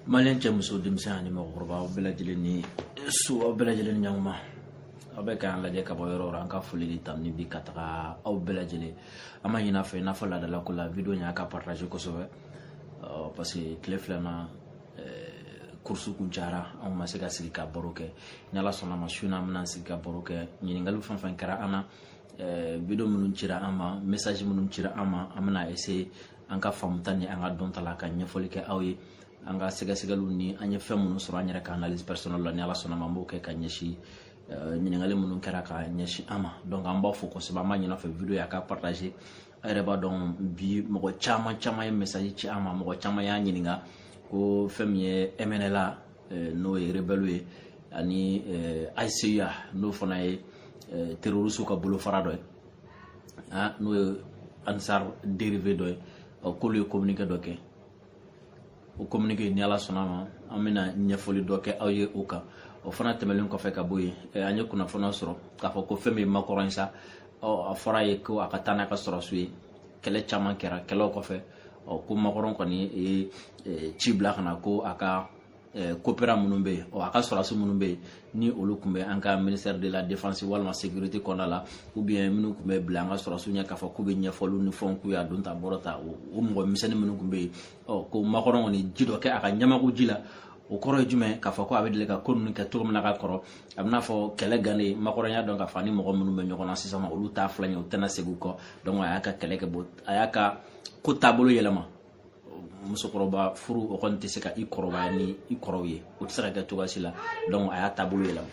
maliyɛn cɛ muso denmisɛn ani mɔgɔkɔrɔba aw bɛɛ lajɛlen ni su aw bɛɛ lajɛlen ni ɲɔgɔnma aw bɛ k'an lajɛ ka bɔ yɔrɔ o yɔrɔ an ka foli ni tanuni bɛ ka taga aw bɛɛ lajɛlen ma an b'a ɲin'a fɛ i n'a fɔ laadala ko la video in a ka partage kosɛbɛ parce que tile fila na kurusu kun cayara anw ma se ka sigi ka baro kɛ ni ala sɔnna ma su in na an bɛna sigi ka baro kɛ ɲininkali fɛn o fɛn kɛra an na video minnu cira an ma message minnu cira an ma an bɛna essayer an ka faamuta ni an ka dɔnta la ka ɲɛfɔli kɛ aw ye an ka sɛgɛsɛgɛliw ni an ye fɛn minnu sɔrɔ an yɛrɛ ka analyse personnelle la ni ala sɔnna ma an b'o kɛ ka ɲɛsin eh, ɲininkali minnu kɛra ka ɲɛsin an ma donc an b'a fo kosɛbɛ an b'a ɲin'a fɛ video in a ka partage a yɛrɛ b'a dɔn bi mɔgɔ caman caman ye message ci an ma mɔgɔ caman y'a ɲininka ko fɛn min ye mnla eh, n'o ye rebelle ye ani eh, hcua n'o fana ye terroriste ka bolofara dɔ ye n'o ye ansar dérivé dɔ ye k'olu ye kominike dɔ kɛ o kominike ni ala sɔnna ma an bɛna ɲɛfɔli dɔ kɛ aw ye o kan o fana tɛmɛnen kɔfɛ ka bɔ yen an ye kunnafoniya sɔrɔ k'a fɔ ko fɛn min makɔrɔn sa a fɔra a ye ko a ka taa n'a ka sɔrɔdasiw ye kɛlɛ caman kɛra kɛlɛw kɔfɛ ko makɔrɔn kɔni ye ci bila ka na ko a ka eh, coopérant minnu bɛ yen a ka sɔrɔdasi minnu bɛ yen ni olu tun bɛ an ka ministère de la défense walima sécurité kɔnɔna la ou bien minnu tun bɛ bila an ka sɔrɔdasiw ɲɛ k'a fɔ k'u bɛ ɲɛfɔliw ni fɛnw k'u y'a don ta bɔrɔ ta o mɔgɔ misɛnnin minnu tun bɛ yen ɔ ko makɔrɔn kɔni ye ji dɔ kɛ a ka ɲamakuji la o kɔrɔ ye jumɛn k'a fɔ ko a bɛ deli ka ko ninnu kɛ cogo min na ka kɔrɔ a bɛ i n'a fɔ kɛlɛ gannen makɔrɔn y'a dɔn k'a fɔ a ni mɔgɔ minnu bɛ ɲɔgɔn na sisan olu t'a filɛ ɲɛ u tɛna segin u kɔ a y'a ka kɛlɛ kɛ a y'a ka ko taabolo yɛlɛma musokɔrɔba furu o kɔni tɛ se ka i kɔrɔbaya ni i kɔrɔw ye o tɛ se ka kɛ cogoya si la donc a y'a taabolo yɛlɛma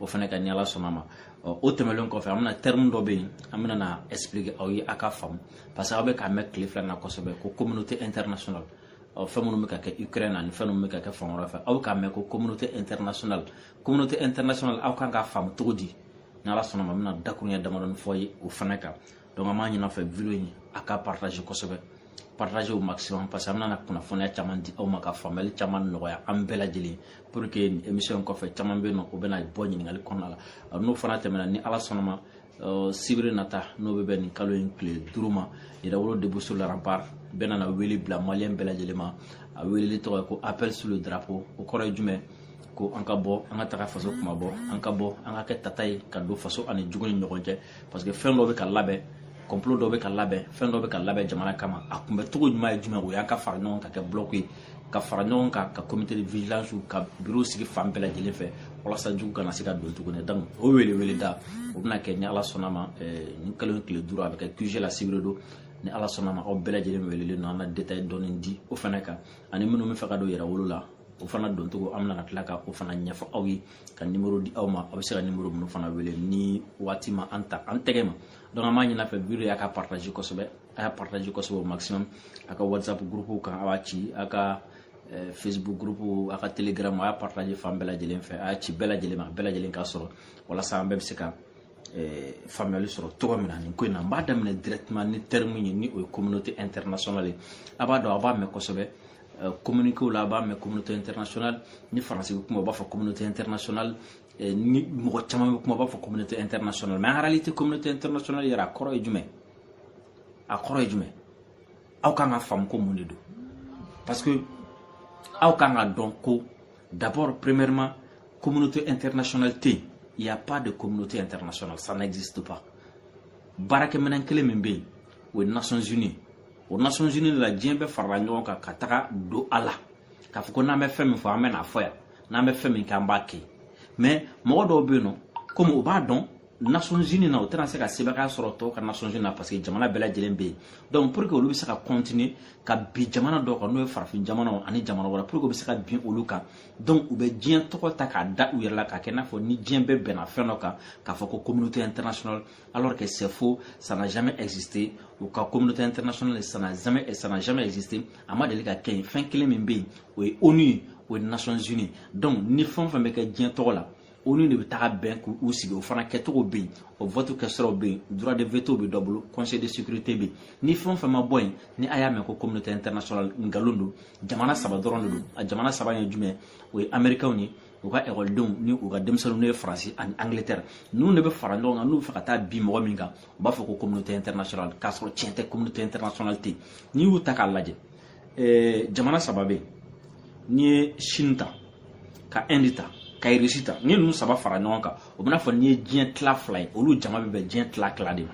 o fana kan ni ala sɔnna ma o tɛmɛlen kɔfɛ an bɛna terme dɔ bɛ yen an bɛna n'a expliquer aw ye a ka faamu parce que aw bɛ k'a mɛn tile fila na kosɛbɛ ko communauté internationale ɔ fɛn minnu bɛ ka kɛ ukraine ani fɛn minnu bɛ ka kɛ fan wɛrɛ fɛ aw bɛ k'a mɛn ko communauté internationale communauté internationale aw kan k'a faamu cogo di n'ala sɔnna ma n bɛna dakuruɲɛ damadɔni fɔ aw ye o fana kan donc an b'a ɲin'a fɛ video in a ka partage kosɛbɛ partage au maximum parce que an bɛna kunnafoniya caman di aw ma ka faamuyali caman nɔgɔya an bɛɛ lajɛlen pour que émission kɔfɛ caman bɛ yen n'o bɛna bɔ ɲininkali kɔnɔna la n'o fana tɛmɛna ni ala sɔnna ma euh, sibiri nata n'o bɛ bɛn nin kalo in tile duuru ma yɛrɛwolo debout sur les remparts bɛna na wele bila maliyɛn bɛɛ lajɛlen ma a weleli tɔgɔ ye ko appel sur le drapeau o kɔrɔ ye jumɛn ko an ka bɔ an ka taga faso kunmabɔ an ka bɔ an ka kɛ tata ye ka don faso ani jugu ni ɲɔgɔn cɛ parce que fɛn dɔ bɛ ka labɛn complot dɔ bɛ ka labɛn fɛn dɔ bɛ ka labɛn jamana kama a kunbɛncogo ɲuman ye jumɛn o y'an ka fara ɲɔgɔn kan ka kɛ blɔku ye ka fara ɲɔgɔn kan ka comité de vigilance ka biro sigi fan bɛɛ lajɛlen fɛ walasa jugu kana se ka don tuguni donc o wele da o bɛna kɛ ni ala sɔnna ma nin kalo in tile duuru a bɛ kɛ QG la sibiri don ni ala sɔnna ma aw bɛɛ lajɛlen welelen don an na détail dɔɔni di o fana kan ani minnu bɛ fɛ ka don yɛrɛwolo la o fana doncogo an bɛna tila ka o fana ɲɛfɔ aw ye ka numéro di aw ma aw bɛ se ka numéro minnu fana wele ni waati ma an ta an tɛgɛ ma donc an b'a ɲini a fɛ video in a k'a partage kosɛbɛ a y'a partage kosɛbɛ au maximum a ka whatsapp groupe kan a b'a ci a ka eh, facebook groupe a ka telegram a y'a partage fan bɛɛ lajɛlen fɛ a y'a ci bɛɛ lajɛlen ma bɛɛ lajɛlen k'a sɔrɔ walasa an bɛɛ bɛ se ka eh, faamuyali sɔrɔ cogo min na nin ko in na n b'a daminɛ directement ni terme ye ni o ye communauté internationale ye a b'a dɔn a b'a mɛn kosɛbɛ Eh, communiquew la a b'a mɛn communauté internationale ni faransi bɛ kuma u b'a fɔ communauté internationale eh, ni mɔgɔ caman bɛ kuma u b'a fɔ communauté internationale mais en réalité communauté internationale yɛrɛ a kɔrɔ ye jumɛn a kɔrɔ ye jumɛn aw kan k'a faamu ko mun de don parce que aw kan k'a dɔn ko d'abord premièrement communauté internationale tɛ yen il y a pas de communauté internationale ça n'existe pas baarakɛminɛn kelen min bɛ yen o ye nations unies o nations unies la diɲɛ bɛɛ farala ɲɔgɔn kan ka taga don a la k'a fɔ ko n'an bɛ fɛn min fɔ an bɛn'a fɔ yan n'an bɛ fɛn min kɛ an b'a kɛ mais mɔgɔ dɔw bɛ yen nɔ komi u b'a dɔn nations unies na u tɛna se ka sebaaya sɔrɔ tɔw kan nations unies na parce que jamana bɛɛ lajɛlen bɛ yen donc pour que olu bɛ se ka continuer ka bin jamana dɔw kan n'o ye farafin jamanaw ani jamana wɛrɛ pour que u bɛ se ka bin olu kan donc u bɛ diɲɛ tɔgɔ ta k'a da u yɛrɛ la k'a kɛ i n'a fɔ ni diɲɛ bɛɛ bɛnna fɛn dɔ kan k'a fɔ ko communauté internationale alors que c'est faux, ça n'a jamais existé. U ka communauté internationale, ça n'a jamais, ça n'a jamais existé. A ma deli ka kɛ yen fɛn kelen min bɛ yen o ye ONU ye o ye Nations Unies donc ni fɛn o fɛn bɛ kɛ diɲɛ tɔgɔ la ONU de bɛ taga bɛn k'u sigi o fana kɛcogo bɛ yen o vote kɛsiraw bɛ yen droit de veto bɛ dɔw bolo conseil de sécurité bɛ yen ni fɛn o fɛn ma bɔ yen ni a y'a mɛn ko communauté internationale nkalon don jamana saba dɔrɔn de don a jamana saba ye jumɛn o ye américains ye u ka ekɔlidenw ni u ka denmisɛnninw n'o ye faransi ani angleterre ninnu de bɛ fara ɲɔgɔn kan n'u bɛ fɛ ka taa bin mɔgɔ min kan u b'a fɔ ko communauté internationale k'a sɔrɔ tiɲɛ tɛ communauté internationale tɛ yen n'i y'u ta k'a lajɛ eh, jamana saba bɛ yen n'i ye chine ta ka inde ta ka irisi ta n'i ninnu saba fara ɲɔgɔn kan o b'i n'a fɔ n'i ye diɲɛ tila fila ye olu jama bɛ bɛn diɲɛ tila tila de ma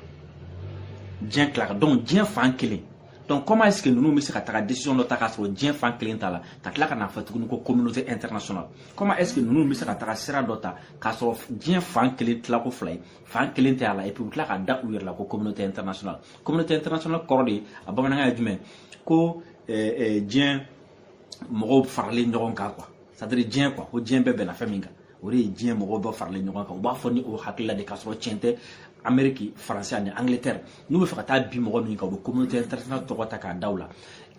diɲɛ tila kan donc diɲɛ fan kelen donc comment est ce que ninnu bɛ se ka taga décision dɔ ta k'a sɔrɔ diɲɛ fan kelen t'a la ka tila ka n'a fɔ tuguni ko communauté internationale comment est ce que ninnu bɛ se ka taga sira dɔ ta k'a sɔrɔ diɲɛ fan kelen tila ko fila ye fan kelen tɛ a la et puis u tila k'a da u yɛrɛ la ko communauté internationale communauté internationale kɔrɔ de ye a bamanankan ye jumɛn ko diɲɛ mɔgɔw faralen ɲɔgɔn kan quoi c'est à dire diɲɛ quoi ko diɲɛ bɛɛ bɛnna fɛn min kan o de ye diɲɛ mɔgɔw bɛɛ faralen ɲɔgɔn kan u b'a fɔ ni o hakilila de k'a sɔrɔ tiɲɛ tɛ ameriki faransi ani angleterre n'u bɛ fɛ ka taa bin mɔgɔ min kan u bɛ communauté internationale tɔgɔ ta k'a da u la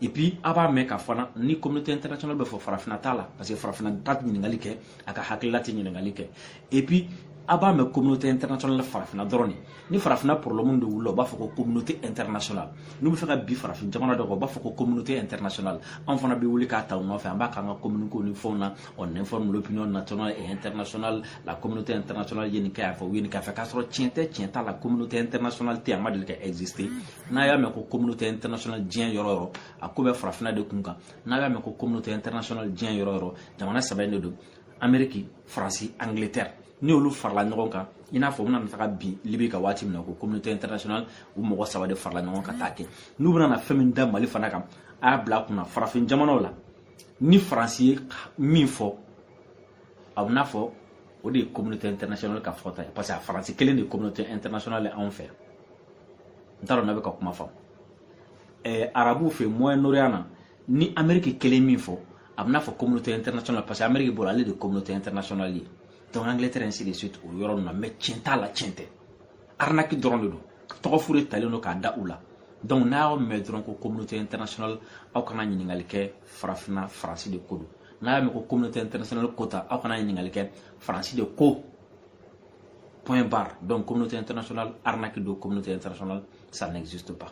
et puis a b'a mɛn ka fana ni communauté internationale bɛ fɔ farafinna t'a la parce que farafinna ta tɛ ɲininkali kɛ a ka hakilila tɛ ɲininkali kɛ et puis a b'a mɛn communauté internationale farafinna dɔrɔn de ni farafinna problème de wulila u b'a fɔ ko communauté internationale n'u bɛ fɛ ka bin farafin jamana dɔ kan u b'a fɔ ko communauté internationale anw fana bɛ wuli k'a ta u nɔfɛ an b'a k'an ka communiquéw ni fɛnw na on informe l'opinion nationale et internationale la communauté internationale ye nin kɛ yan fɛ u ye nin kɛ yan fɛ k'a sɔrɔ tiɲɛ tɛ tiɲɛ t'a la communauté internationale tɛ a ma deli ka exister n'a y'a mɛn ko communauté internationale diɲɛ yɔrɔ yɔrɔ a ko bɛ farafinna de kun kan n'a y'a mɛn ko communauté internationale diɲɛ yɔrɔ yɔrɔ jamana saba in de don ameriki faransi angleterre ni olu farala ɲɔgɔn kan i n'a fɔ u bɛna taga bin libi kan waati min na ko communauté internationale u mɔgɔ saba de farala ɲɔgɔn kan ka taa kɛ n'u bɛna na fɛn min da mali fana kan a y'a bila a kun na farafin jamanaw la ni faransi ye min fɔ a bɛna fɔ o de ye communauté internationale ka fɔta ye parce que a faransi kelen de ye communauté internationale ye anw fɛ yan n t'a dɔn n'a bɛ ka kuma faamu ɛɛ arabuw fɛ moyen orient na ni ameriki kelen min fɔ a bɛna fɔ communauté internationale parce que ameriki bolo ale de communauté internationale ye donc angleterre ainsi de suite o yɔrɔ ninnu na mais tiɲɛ t'a la tiɲɛ tɛ arnaque dɔrɔn de don tɔgɔ fu de talen don k'a da u la donc n'a y'a mɛn dɔrɔn ko communauté internationale aw kana ɲininkali kɛ farafinna faransi de ko don n'a y'a mɛn ko communauté internationale ko ta aw kana ɲininkali kɛ faransi de ko point barre donc communauté internationale arnaque don communauté internationale ça n'existe pas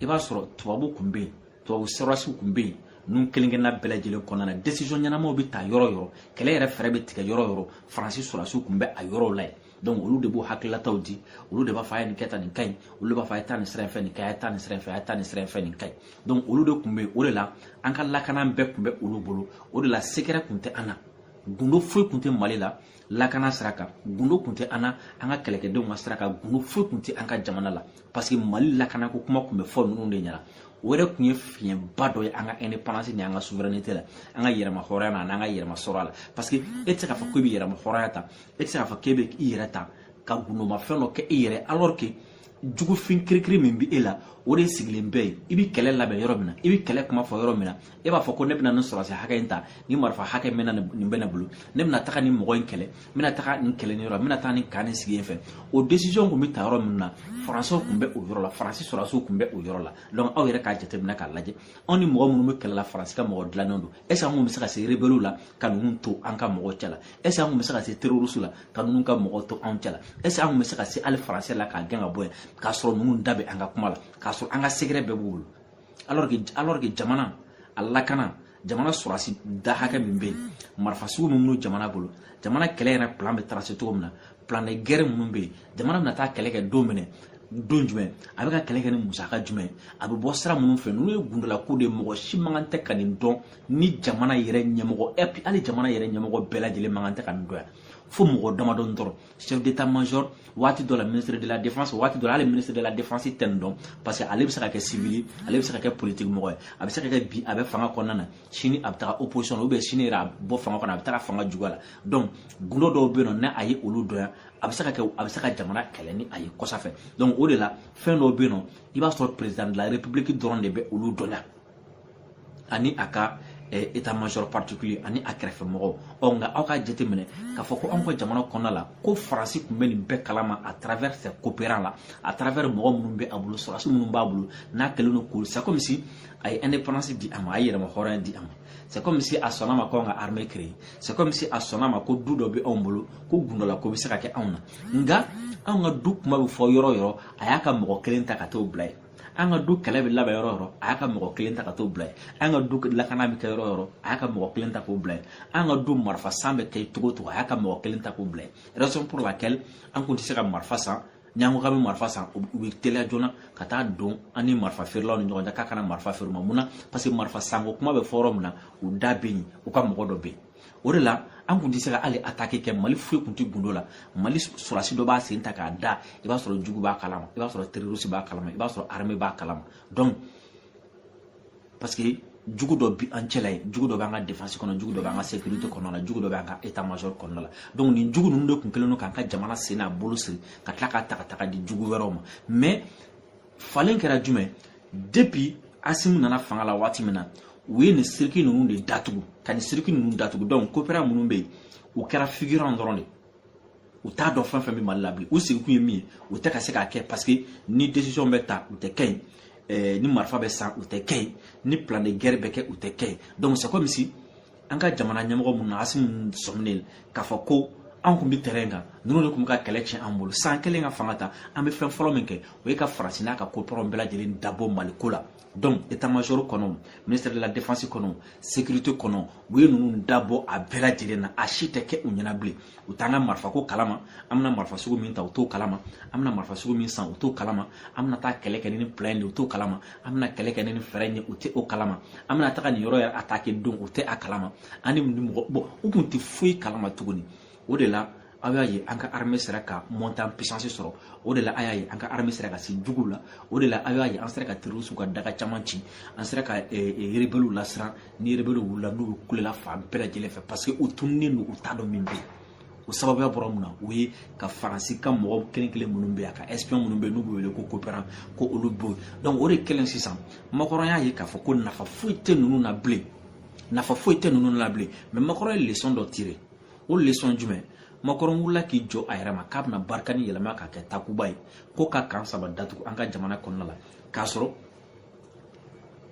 i b'a sɔrɔ tubabu kun bɛ yen tubabu sɔrɔdasiw kun bɛ yen ninnu kelenkelenna bɛɛ lajɛlen kɔnɔna na desizɔn ɲɛnamaw bɛ ta yɔrɔ yɔrɔ kɛlɛ yɛrɛ fɛɛrɛ bɛ tigɛ yɔrɔ yɔrɔ faransi sɔrɔdasiw kun bɛ a yɔrɔw la yen donc olu de b'o hakililataw di olu de b'a fɔ a ye nin kɛ tan nin ka ɲi olu de b'a fɔ a ye taa nin sira in fɛ nin ka ɲi a ye taa nin sira in fɛ a ye taa nin sira in fɛ nin ka ɲi donc olu de tun bɛ yen o de la an ka lakana bɛɛ tun bɛ olu bolo o de la sekɛrɛ tun tɛ an na gundo foyi tun tɛ mali la lakana sira kan gundo tun tɛ an na an ka kɛlɛkɛdenw ka sira kan gundo foyi tun tɛ an ka jamana la parce que mali lakanako kuma tun bɛ fɔ ninnu de ɲɛna o yɛrɛ tun ye fiɲɛba dɔ ye an ka indépendance ni an ka souveraineté la an ka yɛrɛma hɔrɔnya na an'an ka yɛrɛma sɔrɔ a la parce que e tɛ se k'a fɔ k'e bɛ yɛrɛma hɔrɔnya ta e tɛ se k'a fɔ k'e bɛ i yɛrɛ ta ka gundoma fɛn dɔ kɛ i yɛrɛ alors que jugufin kirikiri min bɛ e la o de sigilen bɛ yen i bɛ kɛlɛ labɛn yɔrɔ min na i bɛ kɛlɛ kuma fɔ yɔrɔ min na e b'a fɔ ko ne bɛna nin sɔrɔsi hakɛ in ta ni marifa hakɛ mɛna nin bɛ ne bolo ne bɛna taga nin mɔgɔ in kɛlɛ n bɛna taga nin kɛlɛ nin yɔrɔ n bɛna taga nin kan nin sira in fɛ o décision tun bɛ ta yɔrɔ min na faransiw tun bɛ o yɔrɔ la faransi sɔrɔsiw tun bɛ o yɔrɔ la donc aw yɛrɛ k'a jateminɛ k'a lajɛ anw ni mɔgɔ minnu bɛ kɛlɛ la faransi ka mɔgɔ dilannen don est ce que an tun bɛ se ka se rebelliw la ka ninnu to an ka mɔgɔ cɛ la est ce que an tun bɛ se ka se terroristes la ka ninnu ka mɔgɔ to anw cɛ la est ce que an tun bɛ se ka se hali faransi la k'a gɛn ka bɔ yan k'a sɔrɔ ninnu da bɛ an ka kuma la k'a sɔrɔ an ka sekɛrɛ bɛɛ b'u bolo alors que jamana a lakana jamana sɔrɔsi da hakɛ min bɛ yen marifa sugu min b'u jamana bolo jamana kɛlɛ yɛrɛ plan bɛ tracer cogo min na plan de guerre minnu bɛ yen jamana bɛna taa kɛlɛ kɛ don min na don jumɛn a bɛ ka kɛlɛ kɛ ni musaka jumɛn a bɛ bɔ sira minnu fɛ n'u ye gundalako de mɔgɔ si man kan tɛ ka nin dɔn ni jamana yɛrɛ ɲɛmɔgɔ hali jamana yɛrɛ ɲɛmɔgɔ bɛɛ lajɛlen man kan tɛ ka nin dɔn yan fo mɔgɔ damadɔni dɔrɔn chef d'état major waati dɔ la ministre de la défense waati dɔ la hali ministre de la défense tɛ nin dɔn parce que ale bɛ se ka kɛ civil ale bɛ se ka kɛ politique mɔgɔ ye a bɛ se ka kɛ bi a bɛ fanga kɔnɔna na sini a bɛ taga opposition na ou bien sini yɛrɛ a bɔ fanga kɔnɔ a bɛ taga fanga juguya la donc gundo dɔw bɛ yen nɔ ni a ye olu dɔn yan a bɛ se ka kɛ a bɛ se ka jamana kɛlɛ ni a ye kɔsa fɛ donc o de la fɛn dɔw bɛ yen nɔ i b'a sɔrɔ président de la république dɔrɔn de bɛ olu dɔn yan ani a ka état major particulier ani a kɛrɛfɛ mɔgɔw ɔ nka aw ka jate minɛ k'a fɔ ko anw ka jamana kɔnɔna la ko faransi kun bɛ nin bɛɛ kalama à travers ses coopérants la à travers mɔgɔ minnu bɛ a bolo sɔrɔdasi minnu b'a bolo n'a kɛlen don k'olu c'est comme si a ye indépendance di an ma a ye yɛrɛmahɔrɔnya di an ma c'est comme si a sɔnna ma ko an ka armée créer c'est comme si a sɔnna ma ko du dɔ bɛ anw bolo ko gundala ko bɛ se ka kɛ anw na nka anw ka du kuma bɛ fɔ yɔrɔ o yɔrɔ a y'a ka mɔgɔ kelen ta ka t'o bila yen an ka du kɛlɛ bɛ labɛn yɔrɔ o yɔrɔ a y'a ka mɔgɔ kelen ta ka t'o bila yen an ka du lakana bɛ kɛ yɔrɔ o yɔrɔ a y'a ka mɔgɔ kelen ta k'o bila yen an ka du marifa san bɛ kɛ cogo o cogo a y'a ka mɔgɔ kelen ta k'o bila yen raison pour laquelle an kun tɛ se ka marifa san ni an ko k'an bɛ marifa san u bɛ teliya joona ka taa don an ni marifa feerelaw ni ɲɔgɔn cɛ k'a kana marifa feere an ma mun na parce que marifa sanko kuma bɛ fɔ yɔrɔ min na u da bɛ yen u ka mɔgɔ dɔ bɛ yen o de la an kun tɛ se ka hali attaque kɛ mali foyi kun tɛ gundo la mali sɔrɔsi dɔ b'a sen ta k'a da i b'a sɔrɔ jugu b'a kalama i b'a sɔrɔ terroriste b'a kalama i b'a sɔrɔ armée b'a kalama donc parce que jugu dɔ bi an cɛla yen jugu dɔ b'an ka défense kɔnɔ jugu dɔ b'an ka sécurité kɔnɔna la jugu dɔ b'an ka état major kɔnɔna la donc nin jugu ninnu de kun kɛlen don k'an ka jamana sen n'a bolo siri ka tila k'a ta ka taga di jugu wɛrɛw ma mais falen kɛra jumɛn depuis asimu nana fanga la waati min na u ye nin circuit ninnu de datugu ka nin circuit ninnu datugu donc coopérants minnu bɛ yen u kɛra figurant dɔrɔn de u t'a dɔn fɛn fɛn bɛ mali la bilen u sigikun ye min ye u tɛ ka se k'a kɛ parce que ni décision bɛ ta u tɛ kɛ yen eh, ni marifa bɛ san u tɛ kɛ yen ni plan de guerre bɛ kɛ u tɛ kɛ yen donc c'est comme si an ka jamana ɲɛmɔgɔ minnu na asimu sɔminen k'a fɔ ko an kun bɛ terrain kan ninnu de kun bɛ ka kɛlɛ tiɲɛ an bolo san kelen ka fanga ta an bɛ fɛn fɔlɔ min kɛ o ye ka faransi n'a ka coopérants bɛɛ lajɛlen dabɔ mali ko la donc état major kɔnɔ ministère de la défense kɔnɔ sécurité kɔnɔ u ye ninnu dabɔ a bɛɛ lajɛlen na a si tɛ kɛ u ɲɛna bilen u t'an ka marifako kalama an bɛna marifa sugu min ta u t'o kalama an bɛna marifa sugu min san u t'o kalama an bɛna taa kɛlɛ kɛ ni ni plan de u t'o kalama an bɛna kɛlɛ kɛ ni nin fɛɛrɛ ye u tɛ o kalama an bɛna taga nin yɔrɔ yɛrɛ atake don u tɛ a kalama an ni nin mɔgɔ bɔn u kun tɛ foyi kalama tuguni o de la aw y'a ye an ka armée sera ka montée en puissance sɔrɔ o de la a y'a ye an ka armée sera ka se juguw la o de la aw y'a ye an sera ka terrorisiw ka daga caman ci an sera ka rebeliw lasiran ni rebeliw wulila n'u kulela fan bɛɛ lajɛlen fɛ parce que u tununnen don u t'a dɔn min bɛ yen o sababuya bɔra mun na o ye ka faransi ka mɔgɔ kelen kelen minnu bɛ yan a ka espion minnu bɛ n'u bɛ wele ko koperan k'olu bɛɛ gɛn donc o de kɛlen sisan makɔrɔn y'a ye k'a fɔ ko nafa foyi tɛ ninnu na bilen nafa foyi tɛ ninnu na bilen mɛ makɔrɔn ye leçon dɔ tire o leçon jumɛn makɔrɔn wulila k'i jɔ a yɛrɛ ma k'a bɛna barikani yɛlɛma k'a kɛ takuba ye ko ka kan saba datugu an ka jamana kɔnɔna la k'a sɔrɔ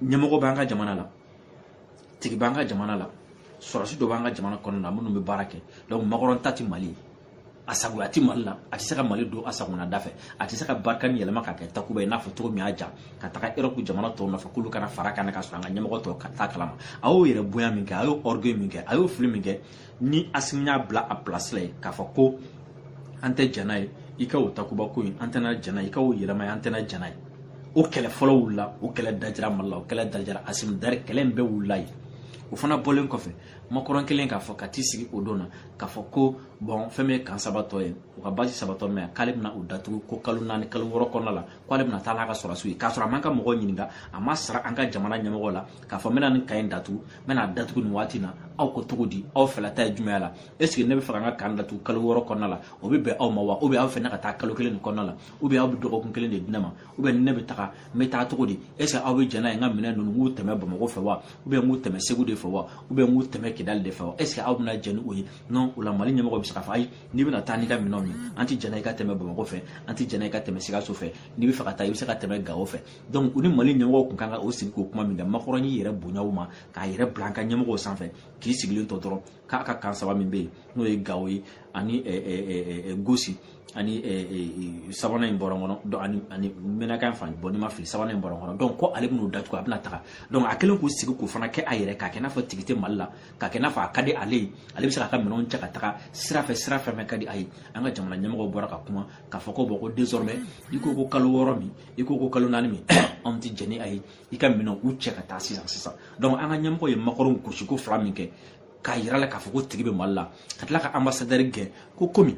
ɲɛmɔgɔ b'an ka jamana la tigi b'an ka jamana la sɔrɔsi dɔ b'an ka jamana kɔnɔna na minnu bɛ baara kɛ donc makɔrɔn ta tɛ mali ye a sagoya tɛ mali la a tɛ se ka mali don a sagona da fɛ a tɛ se ka barikani yɛlɛma ka kɛ takuba ye n'a fɔ cogo min y'a ja ka taga europe jamana tɔw nɔfɛ k'olu ka na fara a kan k'a sɔrɔ an ka ɲɛmɔgɔ tɔw t'a kalama a y'o yɛrɛbonya min kɛ a y'o orgueil min kɛ a y'o fili min kɛ ni asimi y'a bila a pilasi la ye k'a fɔ ko an tɛ jɛn n'a ye i ka o takuba ko in an tɛna jɛn n'i ka o yɛlɛma ye an tɛna jɛn n'a ye o kɛlɛ fɔlɔ wulila o kɛlɛ dajira mali la o kɛlɛ dajira asimi dari kɛlɛ in bɛɛ wulila yen o fana bɔlen kɔfɛ makɔrɔn kelen k'a fɔ ka t'i sigi o don na k'a fɔ ko bɔn fɛn min ye kan saba tɔ ye u ka base saba tɔ min k'ale bɛna u datugu ko kalo naani kalo wɔɔrɔ kɔnɔna la k'ale bɛna taa n'a ka sɔrɔsiw ye k'a sɔrɔ a ma an ka mɔgɔw ɲininka a m'a sara an ka jamana ɲɛmɔgɔ la k'a fɔ n bɛna nin kan in datugu n bɛn'a datugu nin waati na aw ko cogo di aw fɛla ta ye jumɛn y'a la eseke ne bɛ fɛ ka n ka kan datugu kalo wɔɔrɔ kɔnɔna la o bɛ bɛn aw ma wa ubiyɛn aw fɛ ne ka taa kalo kelen nin kɔnɔna la ubiyɛn aw bɛ dɔgɔkun kelen de di ne ma ubiyɛn ne bɛ taga n bɛ taa cogo di eseke aw bɛ jɛn n'a ye n ka minɛn ninnu n k'u tɛmɛ bamakɔ fɛ wa ubiyɛn n k'u tɛmɛ segu de fɛ wa ubiyɛn n k'u tɛmɛ kidali de fɛ wa eseke aw bɛna jɛn ni o ye non o la mali ɲɛmɔgɔ bɛ se k'a fɔ ayi n'i bɛna taa n'i ka minɛnw ye an tɛ jɛn n'a ye i ka tɛmɛ bamakɔ fɛ an tɛ jɛn n'a ye i ka tɛmɛ sikaso fɛ n'i bɛ fɛ ka taa i bɛ se ka tɛmɛ gawo fɛ donc u ni mali ɲɛmɔgɔ kun kan ka o sigi k'o kuma nka makɔrɔn y'i yɛrɛ bonya u ma k'a yɛrɛ bila an ka ɲɛmɔgɔw sanfɛ k'i sigilen to dɔrɔn k'a ka kan saba min bɛ yen n'o ye gawo ye ani gosi ani sabanan in bɔra n kɔnɔ donc ani ani menaka fana bɔn ni n ma fili sabanan in bɔra n kɔnɔ donc ko ale bɛn'o datugu a bɛna taga donc a kɛlen k'u sigi k'o fana kɛ a yɛrɛ k'a kɛ n'a fɔ tigi tɛ mali la k'a kɛ n'a fɔ a ka di ale ye ale bɛ se k'a ka minɛnw cɛ ka taga sira fɛ sira fɛn fɛn ka di a ye an ka jamana ɲɛmɔgɔw bɔra ka kuma k'a fɔ ko bɔn ko désormais i ko ko kalo wɔɔrɔ min i ko ko kalo naani min anw tɛ jɛn n'a ye i ka minɛnw cɛ ka taa sisan sisan donc an ka ɲɛmɔgɔ ye makɔrɔn gosiko fila min kɛ k'a yira a la k'a fɔ ko tigi bɛ mali la ka tila ka anbasadɛri gɛn ko komi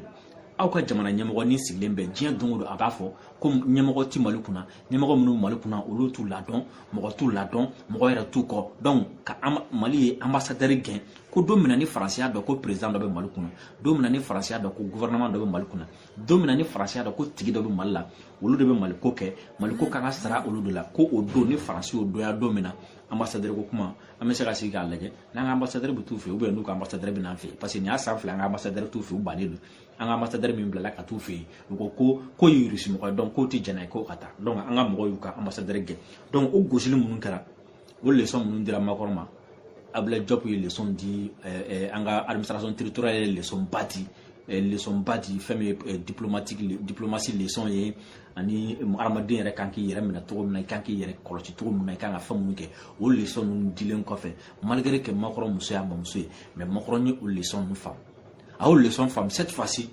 aw ka jamana ɲɛmɔgɔ nin sigilen bɛ diɲɛ don o don a b'a fɔ ko ɲɛmɔgɔ tɛ mali kunna ɲɛmɔgɔ minnu mali kunna olu t'u ladɔn mɔgɔ t'u ladɔn mɔgɔ yɛrɛ t'u kɔ donc ka mali ye anbasadɛri gɛn ko don min ni faransi y'a dɔn ko perezidan dɔ bɛ mali kunna don min ni faransi y'a dɔn ko gɔvɛrɛnaman dɔ bɛ mali kunna don min ni faransi y'a dɔn ko tigi dɔ bɛ mali la olu de bɛ maliko kɛ maliko kan ka sara olu de la ko o don ni faransi y'o dɔnya don min na ambassadeur ko kuma an bɛ se ka sigi k'a lajɛ n'an ka ambassadeur bɛ t'u fɛ yen ou bien n'u ka ambassadeur bɛ n'an fɛ yen parce que nin y'a san fila an ka ambassadeur t'u fɛ yen u bannen don an ka ambassadeur min bilala ka t'u fɛ yen u ko ko k'o ye irisi mɔgɔ ye donc k'u tɛ jɛn n'a ye k'o ka taa donc an ka mɔgɔw y'u ka ambassadeur gɛn donc o gosili minnu kɛra o lesɔn minnu dira Macron ma Ablaye Diop ye lesɔn di eh, eh, an ka administration territoriale ye lesɔn ba di eh, lesɔn ba di fɛn min ye diplomatique diplomasi lesɔn ye ani hadamaden yɛrɛ kan k'i yɛrɛ minɛ cogo min na i kan k'i yɛrɛ kɔlɔsi cogo min na i kan ka fɛn minnu kɛ o lesɔn ninnu dilen kɔfɛ malgré que Macron muso y'a bamuso ye mais Macron ye o lesɔn ninnu faamu a y'o lesɔn faamu cette fois ci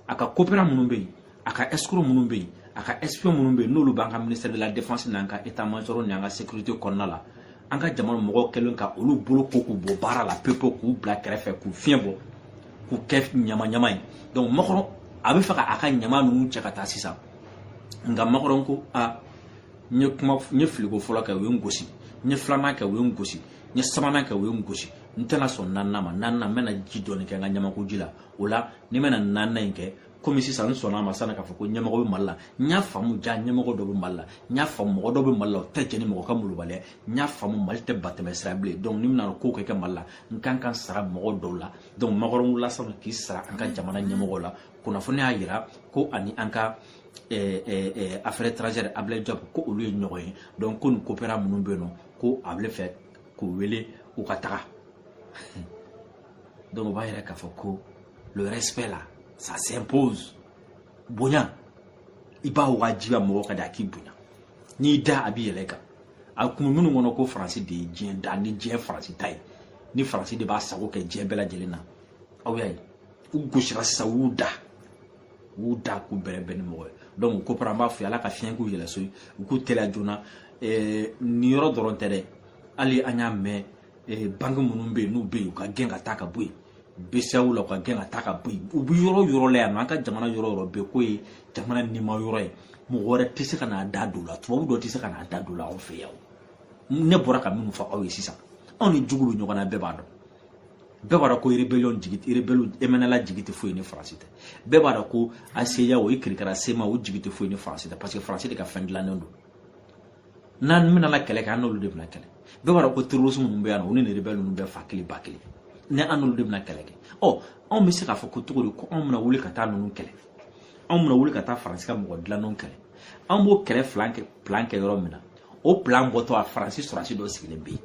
a ka coopérant minnu bɛ yen a ka escroc minnu bɛ yen a ka espion minnu bɛ yen n'olu b'an ka ministère de la défense n'an ka état major n'an ka sécurité kɔnɔna la an ka jamana mɔgɔw kɛlen ka olu bolo ko k'u bɔ baara la pepewu k'u bila kɛrɛfɛ k'u fiɲɛ bɔ k'u kɛ ɲama ɲama ye donc Macron a bɛ fɛ ka a ka ɲama ninnu cɛ ka taa sisan nka Macron ko a n ye kuma n ye filiko fɔlɔ kɛ u ye n gosi n ye filanan kɛ u ye n gosi n ye sabanan kɛ u ye n gosi n tɛna sɔn naaninan ma naaninan n bɛna ji dɔɔni kɛ n ka ɲamakuji la o la ni n bɛna naaninan in kɛ komi sisan n sɔnna a ma sanni k'a fɔ ko ɲɛmɔgɔ bɛ mali la n y'a faamu jaa ɲɛmɔgɔ dɔ bɛ mali la n y'a faamu mɔgɔ dɔ bɛ mali la o tɛ jɛn ni mɔgɔ ka molobaliya n y'a faamu mali tɛ batɛmɛ sira bilen donc ni n bɛna ko kɛ kɛ mali la n kan ka sara mɔgɔ dɔw la donc Macron wulila sanfɛ k'i sara an ka jamana ɲɛmɔgɔ la kunnafoni y'a jira ko ani an ka eh, eh, eh, affaire étrangère Ablaye Diop ko olu ye ɲɔgɔn ye donc ko nin coopérant minnu bɛ yen nɔ ko a bɛ fɛ k'u wele u ka taga donc o b'a yira k'a fɔ ko le respect la ça s'impose bonya i b'a wajibiya mɔgɔ kan de a k'i bonya n'i da a bɛ yɛlɛ i kan a tun bɛ minnu kɔnɔ ko faransi de ye diɲɛ da ni diɲɛ faransi ta ye ni faransi de b'a sago kɛ diɲɛ bɛɛ lajɛlen na aw y'a ye u gosira sisan u y'u da u y'u da k'u bɛrɛbɛn ni mɔgɔ ye donc ko para an b'a fɔ ala ka fiɲɛ k'u yɛlɛ so ye u k'u teliya joona nin yɔrɔ dɔrɔn tɛ dɛ hali an y'a mɛn eh, banque minnu bɛ yen n'u bɛ yen u ka gɛn ka taa ka bɔ yen BCEAO la u ka gɛn ka taa ka bɔ yen u bɛ yɔrɔ yɔrɔ la yan nɔ an ka jamana yɔrɔ yɔrɔ bɛɛ k'o ye jamana nima yɔrɔ ye mɔgɔ wɛrɛ tɛ se ka n'a da don o la tubabu dɔ tɛ se ka n'a da don o la anw fɛ yan ne bɔra ka minnu fɔ aw ye sisan anw ni jugu bɛ ɲɔgɔn na bɛɛ b'a dɔn bɛɛ b'a dɔn ko rébellion jigi rébellion MNLA jigi tɛ foyi ni faransi tɛ bɛɛ b'a dɔn ko HCUA o i kirikara CMA o jigi tɛ foyi ni faransi tɛ parce que faransi de ka fɛn dilannen don n'an bɛna na kɛlɛ kɛ an n'olu de bɛna kɛlɛ bɛɛ b'a dɔn ko terrorisme ninnu bɛ yan nɔ u ni nin rebelle ninnu bɛɛ fa kelen ba kelen ni an n'olu de bɛna kɛlɛ kɛ ɔ anw bɛ se k'a fɔ ko cogo di ko anw bɛna wuli ka taa ninnu kɛlɛ anw bɛna wuli ka taa faransi ka mɔgɔ dilannenw kɛlɛ an b'o kɛlɛ plan kɛ plan kɛ yɔrɔ min na o plan bɔtɔ a faransi sɔrɔsi dɔ sigilen bɛ yen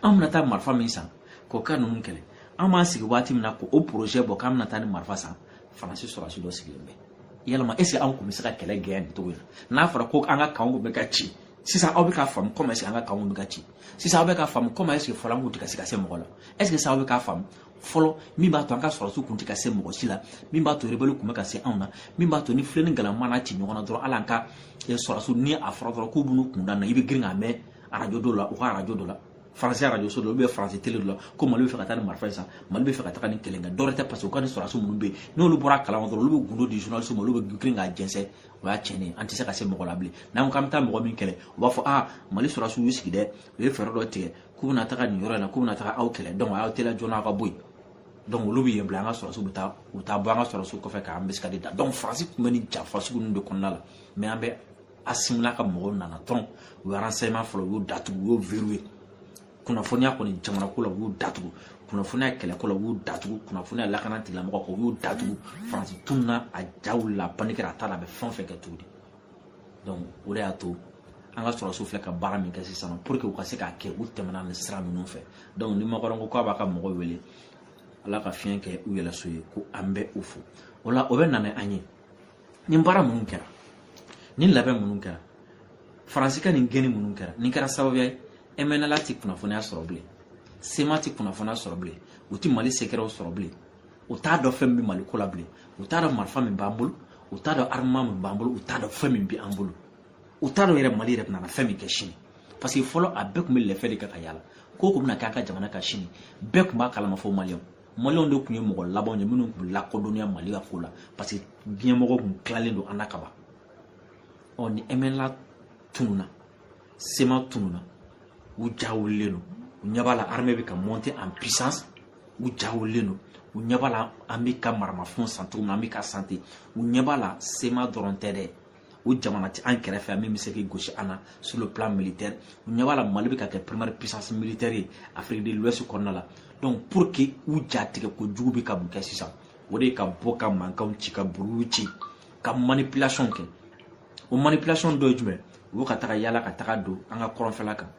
an bɛna taa marifa min san k'o ka ninnu kɛlɛ an b'an sigi waati min na k'o projet bɔ k'an bɛna taa nin marifa san faransi sɔrɔsi dɔ sigilen bɛ yalama est ce que an tun bɛ se ka kɛlɛ gɛn nin cogo in na n'a fɔra ko an ka kanw bɛ ka ci sisan aw bɛ k'a faamu comment est ce que an ka kanw bɛ ka ci sisan aw bɛ k'a faamu comment est ce que fɔlɔ an kun tɛ ka se ka se mɔgɔ la est ce que sisan aw bɛ k'a faamu fɔlɔ min b'a to an ka sɔrɔsiw kun tɛ ka se mɔgɔ si la min b'a to rebɛliw kun bɛ ka se anw na min b'a to ni filen ni galama n'a ci ɲɔgɔn na dɔrɔn hali an ka sɔrɔsiw ni a fɔra dɔrɔn k'u b'u kun da na i bɛ girin k'a mɛn arajo dɔ la u ka arajo dɔ la faransi arajoso dɔ ou bien faransi tele dɔ la ko mali bɛ fɛ ka taa ni marifa ye san mali bɛ fɛ ka taga nin kɛlɛ kɛ dɔwɛrɛ tɛ parce que u ka ni sɔrɔdasi minnu bɛ yen n'olu bɔra a kalama dɔrɔn olu bɛ gundo di journaliste ma olu bɛ girin k'a jɛnsɛn o y'a tiɲɛnen an tɛ se ka se mɔgɔ la bilen n'an ko k'an bɛ taa mɔgɔ min kɛlɛ u b'a fɔ aa mali sɔrɔdasiw y'u sigi dɛ u ye fɛɛrɛ dɔ tigɛ k'u bɛna taga nin yɔrɔ in na k'u bɛna taga aw kɛlɛ donc a y'aw teliya joona aw ka bɔ yen donc olu bɛ yen bila an ka sɔrɔdasiw bɛ taa u taa bɔ an ka sɔrɔdasiw kɔfɛ k'an bɛ se ka de da donc faransi tun bɛ nin janfa sugu ninnu de kɔnɔna la mais an bɛ asimi n'a ka mɔgɔw nana dɔrɔn u ye renseignement fɔlɔ u y'o datugu u y'o verrouillé kunnafoniya kɔni jamanako la u y'o datugu kunnafoniya kɛlɛko la u y'o datugu kunnafoniya lakana tigilamɔgɔ ko u y'o datugu faransi tununa a ja wulila a panikera a t'a dɔn a bɛ fɛn o fɛn kɛ tuguni donc o de y'a to an ka sɔrɔsiw filɛ ka baara min kɛ sisan pour que u ka se k'a kɛ u tɛmɛna nin sira ninnu fɛ donc ni makɔrɔn ko k'a b'a ka mɔgɔw wele ala ka fiɲɛ kɛ u yɛlɛso ye ko an bɛ u fo o la o bɛ na ni an ye nin baara minnu kɛra nin labɛn minnu kɛra faransi ka nin gɛnni minnu kɛra nin kɛra sababuya ye mnla tɛ kunnafoniya sɔrɔ bilen cma tɛ kunnafoniya sɔrɔ bilen u tɛ mali sekɛrɛw sɔrɔ bilen u t'a dɔn fɛn min bɛ mali ko la bilen u t'a dɔn marifa min b'an bolo u t'a dɔn armement min b'an bolo u t'a dɔn fɛn min bɛ an bolo u t'a dɔn yɛrɛ mali yɛrɛ bɛna fɛn min kɛ sini parce que fɔlɔ a bɛɛ tun bɛ lɛfɛ de kɛ ka yaala ko o ko bɛna kɛ an ka jamana ka sini bɛɛ tun b'a kalama fo maliyɛnw maliyɛnw de tun ye mɔgɔ labanw ye minnu tun bɛ lakodɔnniya mali ka ko la parce que diɲɛmɔgɔw tun tilalen don an na kaban ɔ ni mnla tununa cma tununa u ja wulilen don u ɲɛ b'a la armée bɛ ka monter en puissance u ja wulilen don u ɲɛ b'a la an bɛ ka maramafɛnw san cogo min na an bɛ ka san ten u ɲɛ b'a la cma dɔrɔn tɛ dɛ o jamana tɛ an kɛrɛfɛ min bɛ se k'i gosi an na sur le plan militaire u ɲɛ b'a la mali bɛ ka kɛ première puissance militaire ye afrique de l'ouest kɔnɔna la donc pour que u ja tigɛ kojugu bɛ ka mun kɛ sisan o de ye ka bɔ ka mankanw ci ka buruw ci ka manipulation kɛ o manipulation dɔ ye jumɛn u bɛ ka taga yaala ka taga don an ka kɔrɔnfɛla kan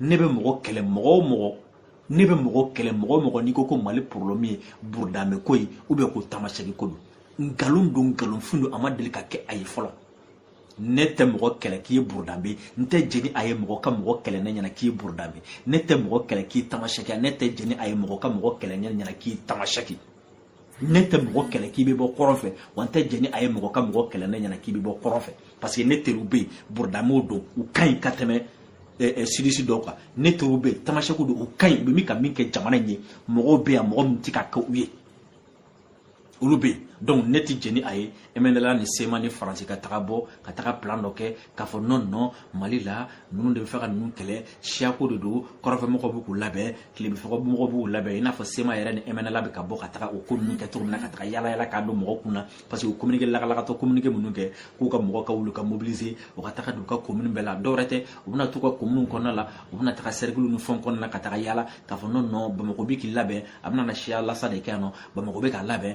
ne bɛ mɔgɔ kɛlɛ mɔgɔ o mɔgɔ n'i ko ko mali problème ye burudamɛ ko ye ou bien ko tamasɛki ko don nkalon don nkalonfin don a ma deli ka kɛ a ye fɔlɔ ne tɛ mɔgɔ kɛlɛ k'i ye burudamɛ n tɛ jɛn n'a ye mɔgɔ ka mɔgɔ kɛlɛ ne ɲɛna k'i ye burudamɛ ne tɛ mɔgɔ kɛlɛ k'i tamasɛki ne tɛ jɛn n'a ye mɔgɔ ka mɔgɔ kɛlɛ ne ɲɛna k'i ye tamasɛki ne tɛ mɔgɔ kɛlɛ k'i bɛ bɔ kɔrɔn fɛ wa n tɛ jɛn ni a ye mɔgɔ ka mɔgɔ kɛlɛ ne ɲɛna k'i bɛ bɔ kɔrɔn fɛ parce que ne teriw bɛ yen burudamɛw don u ka ɲi ka tɛmɛ sudiste dɔw kan ne teriw bɛ yen tamasɛkiw don u ka ɲi u bɛ min ka min kɛ jamana in ye mɔgɔw bɛ yan mɔgɔ min tɛ ka kɛ u ye olu bɛ yen donc ne tɛ jɛn ni a ye mnla ni cma ni faransi ka taga bɔ ka taga plan dɔ kɛ k'a fɔ non non mali la ninnu de bɛ fɛ ka ninnu kɛlɛ siyako de don kɔrɔnfɛmɔgɔw bɛ k'u labɛn tilebinfɛmɔgɔw b'u labɛn i n'a fɔ cma yɛrɛ ni mnla bɛ ka bɔ ka taga o ko ninnu kɛ cogo min na ka taga yaala yaala k'a don mɔgɔw kun na parce que u communiqué lagalagatɔ communiqué minnu kɛ k'u ka mɔgɔw ka wuli ka mobiliser u ka taga don u ka commune bɛɛ la dɔwɛrɛ tɛ u bɛna t'u ka commune kɔnɔna la u bɛna taga cercle ni fɛnw kɔnɔna la ka taga yaala k'a fɔ non non bamakɔ bɛ k'i labɛn a bɛna na siya lasa de kɛ yan non bamakɔ bɛ k'a labɛn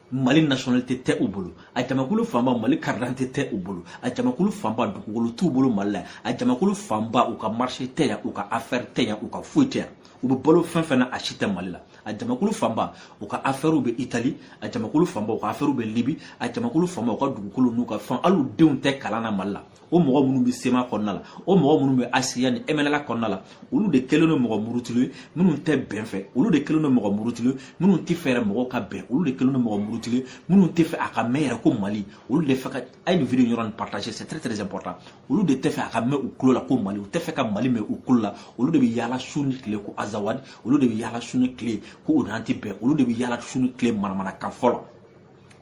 mali nationalité tɛ u bolo a jamakulu fanba mali karidante tɛ u bolo a jamakulu fanba dugukolo t'u bolo mali la a jamakulu fanba u ka marché tɛ yan u ka affaire tɛ yan u ka foyi tɛ yan u bɛ balo fɛn fɛn na a si tɛ mali la a jamakulu fanba u ka afɛriw bɛ itali a jamakulu fanba u ka afɛriw bɛ libi a jamakulu fanba u ka dugukolo n'u ka fɛn hali u denw tɛ kalan na mali la o mɔgɔ minnu bɛ cma kɔnɔna la o mɔgɔ minnu bɛ hcua ni mnla kɔnɔna la olu de kɛlen don mɔgɔ murutilenw ye minnu tɛ bɛn fɛ olu de kɛlen don mɔgɔ murutilenw ye minnu tɛ fɛ yɛrɛ mɔgɔw ka bɛn olu de kɛlen don mɔgɔ murutilenw ye minnu tɛ fɛ a ka mɛn yɛrɛ ko mali olu de fɛ ka a ye nin video yɔrɔ nin partager c'est très très important olu de tɛ fɛ a ka mɛn u tulo la ko mali u tɛ fɛ ka mali mɛn u tulo la olu de bɛ yaala su ni tile ko azawadi olu de bɛ yaala su ni tile ko o n'an tɛ bɛn olu de bɛ yaala su ni tile manamanakan fɔ la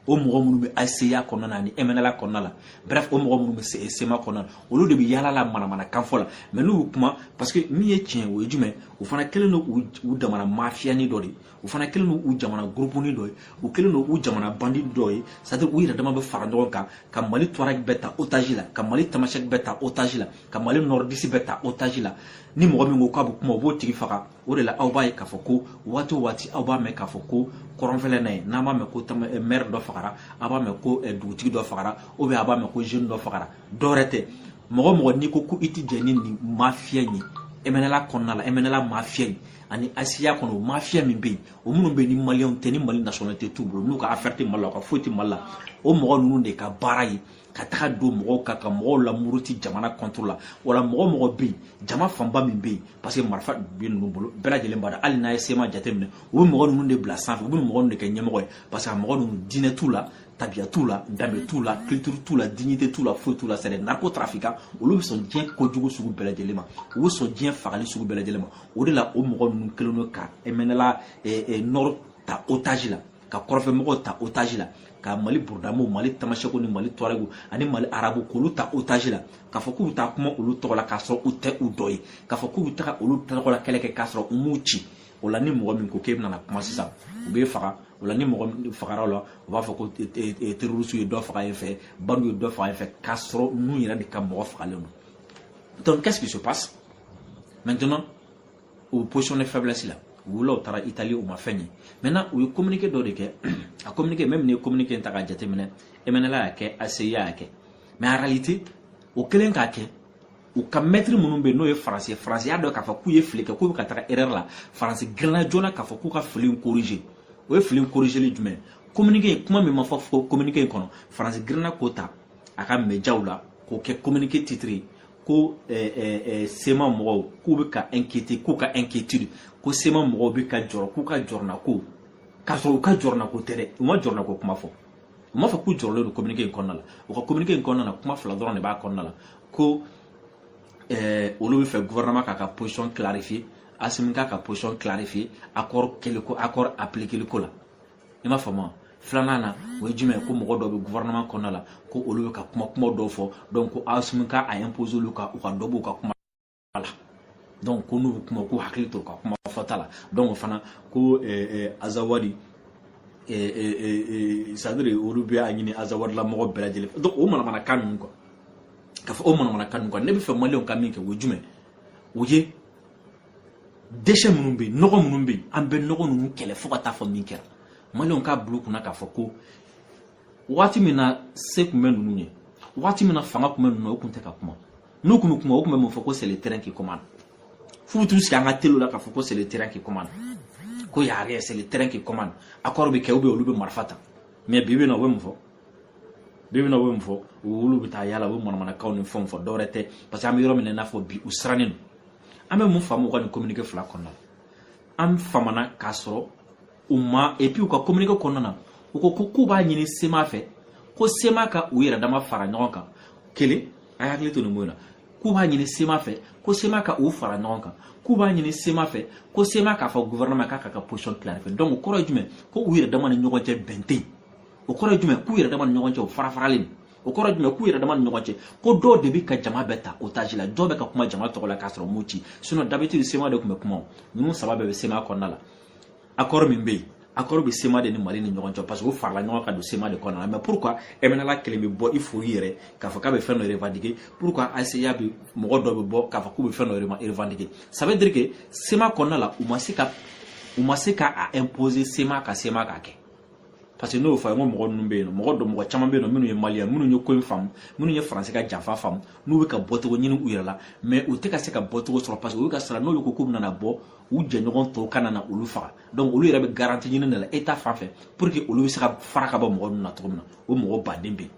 o mɔgɔ minnu bɛ hcua kɔnɔna na ani mnla kɔnɔna la bref o mɔgɔ minnu bɛ cma kɔnɔna na olu de bɛ yaala la manamanakan fɔ la mais n'u y'u kuma parce que min ye tiɲɛ o ye jumɛn u fana kɛlen don u jamana mafiyani dɔ de ye u fana kɛlen don u jamana gurupuni dɔ ye u kɛlen don u jamana bandi dɔ ye c'est-à-dire u yɛrɛ dama bɛ fara ɲɔgɔn kan ka mali touareg bɛɛ ta otaji la ka mali tamasɛki bɛɛ ta otaji la ka mali nordiste bɛɛ ta otaji la ni mɔgɔ min ko k'a bɛ kuma u b'o tigi faga o de la aw b'a ye k'a fɔ ko waati o waati aw b'a mɛn k'a fɔ ko kɔrɔnfɛla na yen an b'a mɛn ko eh, maire dɔ fagara a b'a mɛn ko eh, dugutigi dɔ fagara ou bien a b'a mɛn ko jeune dɔ fagara dɔwɛrɛ tɛ mɔgɔ mɔgɔ n'i ko ko i tɛ jɛn ni nin mafiya in ye mnla kɔnɔna la mnla mafiya in ani hcua kɔnɔ o mafiya min bɛ yen o minnu bɛ yen ni maliyɛnw tɛ ni mali nationalité t'u bolo n'u ka affaire tɛ mali la u ka foyi tɛ mali la o mɔgɔ ninnu de ka baara ye ka taga don mɔgɔw kan ka mɔgɔw lamuruti jamana contre la wala mɔgɔ mɔgɔ bɛ yen jama fanba min bɛ yen parce que marifa bɛ ninnu bolo bɛɛ lajɛlen b'a dɔn hali n'a ye cma jateminɛ u bɛ mɔgɔ ninnu de bila sanfɛ u bɛ mɔgɔ ninnu de kɛ ɲɛmɔgɔ ye parce que a mɔgɔ ninnu diinɛ t'u la tabiya t'u la danbe t'u la culture t'u la dignité t'u la foyi t'u la c'est des narcotrafiquants olu bɛ sɔn diɲɛ kojugu sugu bɛɛ lajɛlen ma u bɛ sɔn diɲɛ fagali sugu bɛɛ lajɛlen ma o de la o mɔgɔ ninnu kɛlen don ka mnla nord ta otage la ka kɔrɔnfɛ mɔgɔw ta otage la ka mali burudamɛw mali tamasɛkiw ni mali tuarɛgiw ani mali arabuw k'olu ta otage la k'a fɔ k'u bɛ taa kuma olu tɔgɔ la k'a sɔrɔ u tɛ u dɔ ye k'a fɔ k'u bɛ taga olu tɔgɔ la kɛlɛ kɛ k'a sɔrɔ u m'u ci o la ni mɔgɔ min ko k'e bɛna kuma sisan u b'e faga o la ni mɔgɔ min fagara la u b'a fɔ ko terroriste ye dɔ faga yen fɛ bandiw ye dɔ faga yen fɛ k'a sɔrɔ ninnu yɛrɛ de ka mɔgɔ fagalen don donc qu'est-ce qui se passe maintenant o position de faiblesse la wulila u taara itali u ma fɛn ye maintenant u ye communiqué dɔ de kɛ a communiqué même n'i ye communiqué in ta k'a jateminɛ mnla y'a kɛ hcua y'a kɛ mais en réalité u kɛlen k'a kɛ u ka mɛtiri minnu bɛ yen n'o ye faransi ye faransi y'a dɔn k'a fɔ k'u ye fili kɛ k'u bɛ ka taga erreur la faransi girinna joona k'a fɔ k'u ka fili in corriger o ye fili in corrigeli jumɛn communiqué in kuma min ma fɔ communiqué in kɔnɔ faransi girinna k'o ta a ka médiaw la k'o kɛ communiqué titre ye ko eh, eh, eh, sema mɔgɔw k'u bɛ ka inquiété k'u ka inquiétude ko sema mɔgɔw bɛ ka jɔrɔ k'u ka jɔrɔnako k'a sɔrɔ u ka jɔrɔnako tɛ dɛ u ma jɔrɔnako kuma fɔ u m'a fɔ k'u jɔrɔlen don communiqué in kɔnɔna la u ka communiqué in kɔnɔna la kuma fila dɔrɔn de b'a kɔnɔna la ko olu bɛ fɛ gouvernement k'a ka position clarifier asimi k'a ka position clarifier accord kɛliko accord appliqueli ko la i m'a faamu filanan na o ye jumɛn ye ko mɔgɔ dɔw bɛ gouvernement kɔnɔna la ko olu bɛ ka kuma kuma dɔw fɔ donc ko asimi ka a imposer olu kan u ka dɔ b'u ka kuma la donc ko n'u bɛ kuma k'u hakili to u ka kuma fɔta la donc o fana ko azawadi c'est-à-dire olu bɛ a ɲini azawadila mɔgɔ bɛɛ lajɛlen fɛ donc o manamanakan ninnu quoi k'a fɔ o manamanakan ninnu quoi ne bɛ fɛ maliyɛnw ka min kɛ o ye jumɛn o ye déchets minnu bɛ yen nɔgɔ minnu bɛ yen an bɛ nɔgɔ ninnu kɛlɛ fo ka taa fɔ min kɛra maliyɛnw k'a bila u kunna k'a fɔ ko waati min na se tun bɛ ninnu ye waati min na fanga tun bɛ ninnu na u tun tɛ ka kuma n'u tun bɛ kuma u tun bɛ mun fɔ ko c'est le terrain qui commande f'u bɛ t'u sigi an ka téléw la k'a fɔ ko c'est le terrain qui commande ko y'a rien c'est le terrain qui commande accord bɛ kɛ ou bien olu bɛ marifa ta mais bi bi in na u bɛ mun fɔ bi bi in na u bɛ mun fɔ olu bɛ taa yala u bɛ manamanakanw ni fɛnw fɔ dɔwɛrɛ tɛ parce que an bɛ yɔrɔ min na i n'a fɔ bi u sirannen don an bɛ mun faamu u ka nin communiqué fila kɔnɔna na an faamuna k'a sɔrɔ u ma et puis u ka communiqué kɔnɔna na u ko ko k'u b'a ɲini sema fɛ ko sema ka u yɛrɛ dama fara ɲɔgɔn kan kelen a ye hakili to nin mun na k'u b'a ɲini sema fɛ ko sema ka u fara ɲɔgɔn kan k'u b'a ɲini sema fɛ ko sema k'a fɔ gouvernement k'a ka ka position clarifier donc o kɔrɔ ye jumɛn ko u yɛrɛ dama ni ɲɔgɔn cɛ bɛn tɛ yen o kɔrɔ ye jumɛn k'u yɛrɛ dama ni ɲɔgɔn cɛ u fara faralen o kɔrɔ ye jumɛn k'u yɛrɛ dama ni ɲɔgɔn cɛ ko dɔw de bɛ ka jama bɛɛ ta otage la dɔw bɛ ka kuma jama tɔgɔ la k'a sɔrɔ m'u ci sinon d'habitude sema de tun bɛ kuma o ninnu saba bɛɛ bɛ sema kɔnɔna la accord min bɛ yen accord bɛ sema de ni mali ni ɲɔgɔn cɛ parce que o farala ɲɔgɔn kan don sema de kɔnɔna la mais pourquoi mnla kelen bɛ bɔ i fori yɛrɛ k'a fɔ k'a bɛ fɛn dɔ revendiquer pourquoi hcua bɛ mɔgɔ dɔ bɛ bɔ k'a fɔ k'u bɛ fɛn dɔ revendiquer ça veut dire que sema kɔnɔna la u ma se ka u ma se ka a imposer sema ka sema k'a kɛ parce que n y'o fɔ a ye ko mɔgɔ ninnu bɛ yen nɔ mɔgɔ dɔ mɔgɔ caman bɛ yen nɔ minnu ye maliyɛn minnu ye ko in faamu minnu ye faransi ka janfa faamu n'u bɛ ka bɔcogo ɲini u yɛrɛ la mais u tɛ ka se ka bɔcogo sɔrɔ parce que u bɛ ka siran n'olu ko k'u bɛna bɔ u jɛɲɔgɔn tɔw kana na olu faga donc olu yɛrɛ bɛ garantie ɲini de la état fan fɛ pour que olu bɛ se ka fara ka bɔ mɔgɔ ninnu na cogo min na o mɔgɔ baden bɛ yen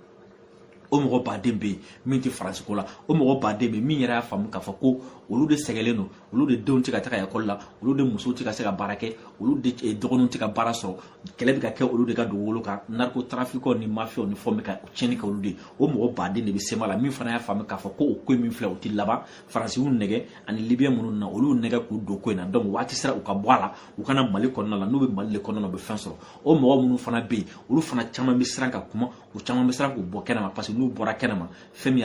o mɔgɔ baden bɛ yen min tɛ faransi ko la o mɔgɔ baden bɛ yen min yɛrɛ y'a faamu k'a fɔ ko olu de sɛgɛnlen don olu de denw tɛ ka taga ekɔli la olu de musow tɛ ka se ka baara kɛ olu de eh, dɔgɔninw tɛ ka baara sɔrɔ kɛlɛ bɛ ka kɛ olu de ka dugukolo kan narcotrafiquantw ni mafiyaw ni fɛnw bɛ ka tiɲɛni kɛ olu de ye o mɔgɔ baden de bɛ sema la min fana y'a faamu k'a fɔ ko o ko in min filɛ o tɛ laban faransi y'u nɛgɛ ani libiyɛn minnu na olu nɛgɛ k'u don ko in na donc waati sera u ka bɔ a la u ka na mali kɔnɔna la n'u bɛ mali de kɔnɔna na u bɛ fɛn sɔrɔ o mɔgɔ minnu fana bɛ yen olu fana caman bɛ siran ka kuma u caman bɛ siran k'u bɔ kɛnɛma parce que n'u bɔra kɛnɛma fɛn min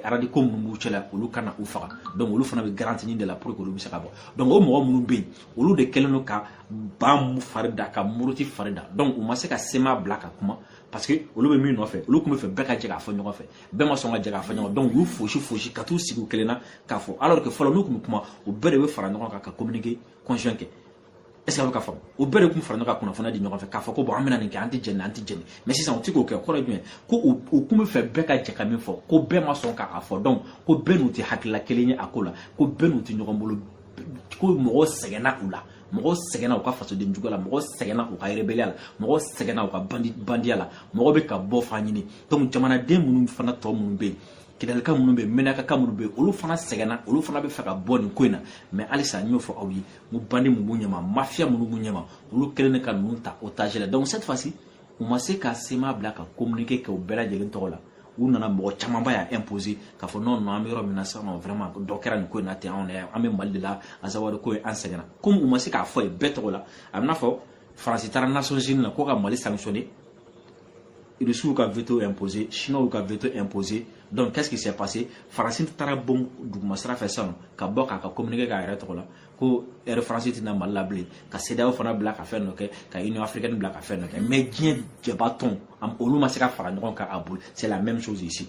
radicaux minnu b'u cɛla olu kana u faga donc olu fana bɛ garantie ɲini de la pour que olu bɛ se ka bɔ donc o mɔgɔ minnu bɛ yen olu de kɛlen don ka ban fari da ka muruti fari da donc u ma se ka sema bila ka kuma parce que olu bɛ min nɔfɛ olu tun bɛ fɛ bɛɛ ka jɛ k'a fɔ ɲɔgɔn fɛ bɛɛ ma sɔn ka jɛ k'a fɔ ɲɔgɔn donc u y'u fosi fosi ka t'u sigi u kelen na k'a fɔ alors que fɔlɔ n'u tun bɛ kuma u bɛɛ de bɛ fara ɲɔgɔn kan ka communiqué conjoint kɛ est-ce que a bɛ ka faamu u bɛɛ de tun fara ɲɔgɔn kan kunnafoniya di ɲɔgɔn fɛ k'a fɔ ko bon an bɛna nin kɛ an tɛ jɛ nin an tɛ jɛ nin mais sisan u tɛ k'o kɛ kɔrɔ jumɛn ko u tun bɛ fɛ bɛɛ ka jɛ ka min fɔ ko bɛɛ ma sɔn k'a fɔ donc ko bɛɛ n'u tɛ hakilila kelen ye a ko la ko bɛɛ n'u tɛ ɲɔgɔn bolo ko mɔgɔ sɛgɛnna u la mɔgɔ sɛgɛnna u ka fasoden juguya la mɔgɔ sɛgɛnna u ka rébellion la mɔgɔ sɛgɛnna u ka bandiya la mɔgɔ bɛ ka bɔ fan ɲini donc jamanaden minnu fana tɔ minnu bɛ yen kidalika minnu bɛ yen mɛnakaka minnu bɛ yen olu fana sɛgɛnna olu fana bɛ fɛ ka bɔ nin ko in na mais halisa n y'o fɔ aw ye n ko bandi minnu b'u ɲɛma mafiya minnu b'u ɲɛma olu kɛlen de ka ninnu ta otage la donc cette fois ci u ma se ka sema bila ka communiqué kɛ u bɛɛ lajɛlen tɔgɔ la u nana mɔgɔ camanba y'a imposé k'a fɔ non non an bɛ yɔrɔ min na sisan nɔ vraiment dɔ kɛra nin ko in na ten anw yɛrɛ an bɛ mali de la azawad ko ye an sɛgɛnna komi u ma se k'a fɔ ye bɛɛ tɔgɔ la a bɛ n'a fɔ faransi taara nations unies na ko ka mali sanctionner rusiw ka veto imposé chinois ka veto imposé donc qu'est ce qui s'est passé faransi taara bon duguma sira fɛ sisan ka bɔ k'a ka communiqué k'a yɛrɛ tɔgɔ la ko air france tɛ na mali la bilen ka cedeao fana bila ka fɛn dɔ kɛ ka union africaine bila ka fɛn dɔ kɛ mais diɲɛ jɛba tɔn olu ma se ka fara ɲɔgɔn kan a bolo c'est la même chose ici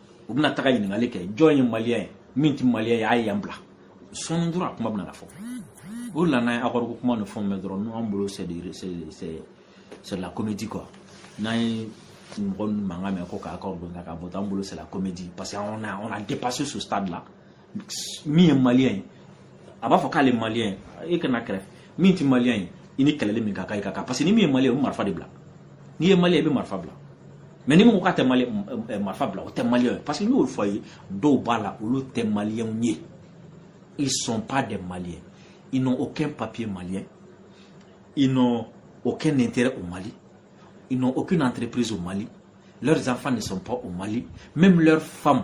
u bɛna taga ɲininkali kɛ jɔn ye maliyɛn ye min tɛ maliyɛn ye a ye yan bila sɔɔni dɔrɔn a kuma bɛna na fɔ o de la n'an ye accord ko kuma ni fɛnw mɛn dɔrɔn n'an bolo c'est de la comédie quoi n'an ye mɔgɔ ninnu mankan mɛn ko ka accord don ka bɔ an bolo c'est de la comédie parce que on a on a dépassé ce stade là min ye maliyɛn ye a b'a fɔ k'ale maliyɛn ye e ka na kɛrɛfɛ min tɛ maliyɛn ye i ni kɛlɛli min ka kan i ka kan parce que ni min ye maliyɛn ye o bɛ marifa de bila n'i ye maliyɛn i bɛ marifa bila mais ni min ko k'a tɛ marifa bila o tɛ maliyɛn ye parce que n y'o fɔ a ye dɔw b'a la olu tɛ maliyɛnw ye ils sont pas des maliens ils n'ont aucun papier malien ils n'ont aucun intérêt au Mali ils n'ont aucune entreprise au Mali leurs enfants ne sont pas au Mali même leurs femmes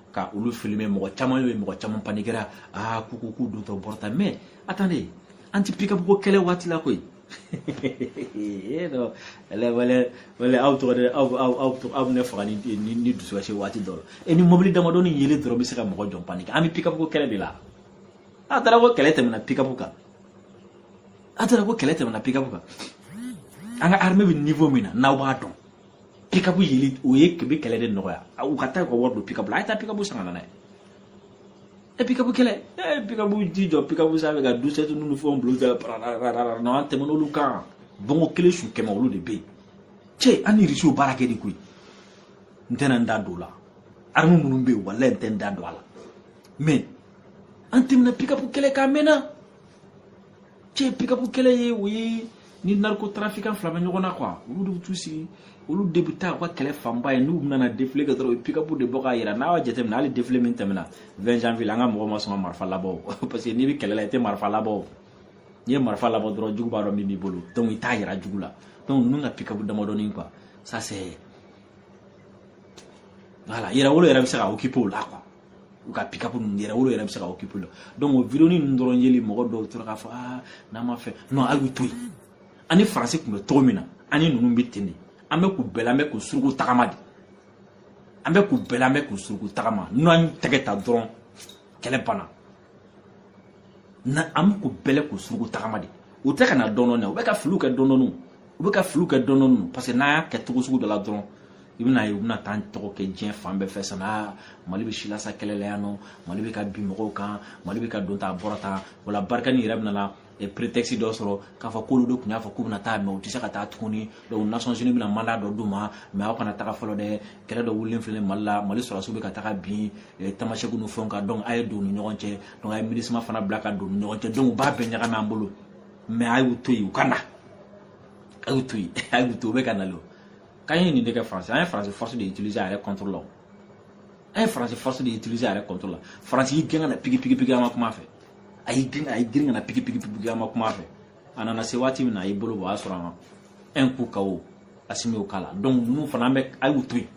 ka olu filime mɔgɔ caman ye mɔgɔ caman panikera aa ko ko k'u dontɔ bɔrɔta mais attendez an ti pikapu ko kɛlɛ waati la koyi non wala aw tɔgɔ de aw aw aw aw bɛ ne faga ni ni ni dusukasi waati dɔ la e ni mɔbili damadɔni yelen dɔrɔn bɛ se ka mɔgɔ jɔn panike an bɛ pikapu ko kɛlɛ de la a taara ko kɛlɛ tɛmɛna pikapu kan a taara ko kɛlɛ tɛmɛna pikapu kan an ka armée bɛ niveau min na n'aw b'a dɔn pikapu yeli o yɛrɛ bɛ kɛlɛ de nɔgɔya u ka taa u ka wari don pikapu la a ye taa pikapu san ka na n'a ye e pikapu kɛlɛ e pikapu ji jɔ pikapu sanfɛ ka douze sept n'olu fɛnw bila u da parararara non an tɛmɛna olu kan bɔnbu kelen su kɛmɛ olu de bɛ yen cɛ an ni risiw baara kɛ de koyi n tɛna n da don o la armée minnu bɛ yen walayi n tɛ n da don a la mais an tɛmɛna pikapu kɛlɛ kan mɛnna cɛ pikapu kɛlɛ ye o ye ni narcotrafiquant fila bɛ ɲɔgɔn na quoi olu de bɛ t'u sigi olu de bɛ taa u ka kɛlɛ fanba ye n'u nana défilé kɛ dɔrɔn u ye pikapu de bɔ k'a yira n'a y'a jateminɛ hali défilé min tɛmɛna 20 janvier la an ka mɔgɔw ma sɔn ka marifa labɔ o parce que n'i bɛ kɛlɛ la i tɛ marifa labɔ o n'i ye marifa labɔ dɔrɔn jugu b'a dɔn min b'i bolo donc i t'a yira jugu la donc ninnu ka pikapu damadɔni quoi ça c'est voilà yɛrɛwolo yɛrɛ bɛ se ka occuper o la quoi u ka pikapu ninnu yɛrɛwolo yɛrɛ bɛ se ka occuper o la donc o vidéo ninnu dɔrɔn yeli mɔgɔ dɔw tora k'a fɔ aa n'a ma fɛ non a y'u to yen an ni faransi tun bɛ cogo min na an ni ninnu bɛ ten de an bɛ k'u bɛlɛn an bɛ k'u suruku tagama de an bɛ k'u bɛlɛn an bɛ k'u suruku tagama n'an y'u tɛgɛ ta dɔrɔn kɛlɛ banna na an bɛ k'u bɛlɛn k'u suruku tagama de u tɛ ka na dɔɔnin dɔɔnin u bɛ ka filiw kɛ dɔɔnin dɔɔnin u bɛ ka filiw kɛ dɔɔnin dɔɔnin parce que n'a y'a kɛ cogo sugu dɔ la dɔrɔn i bɛna ye u bɛna t'an tɔgɔ cɛn diɲɛ fan bɛɛ fɛ sana mali bɛ silasa kɛlɛ la yan non mali bɛ ka bin mɔgɔw kan mali bɛ ka don ta a bɔra ta wala barikani yɛrɛ bɛna prétexte dɔ sɔrɔ k'a fɔ k'olu de tun y'a fɔ k'u bɛna taa mais u tɛ se ka taa tuguni donc nations unies bɛna mandat dɔ d'u ma mais aw kana taga fɔlɔ dɛ kɛlɛ dɔ wulilen filɛ mali la mali sɔrɔdasiw bɛ ka taga bin tamasɛkiw ni fɛnw kan donc a ye don u ni ɲɔgɔn cɛ donc a ye minusma fana bila ka don u ni ɲɔgɔn cɛ donc u b'a bɛɛ ɲagami an bolo mais a y'u to yen u ka na a y'u to yen a y'u to u bɛ ka nalen o k'an ye nin de kɛ faransi an ye faransi force de utiliser a yɛrɛ contre la an ye faransi force de utiliser a yɛrɛ contre la faransi y'i gɛn ka na pigi pigi pigi an ka kuma fɛ a y'i gɛn a y'i girin ka na pigi pigi pigi an ka kuma fɛ a nana se waati min na a y'i bolo bɔ o y'a sɔrɔ an ka un coup KO Asimi y'o k'a la donc ninnu fana an bɛ a y'u to yen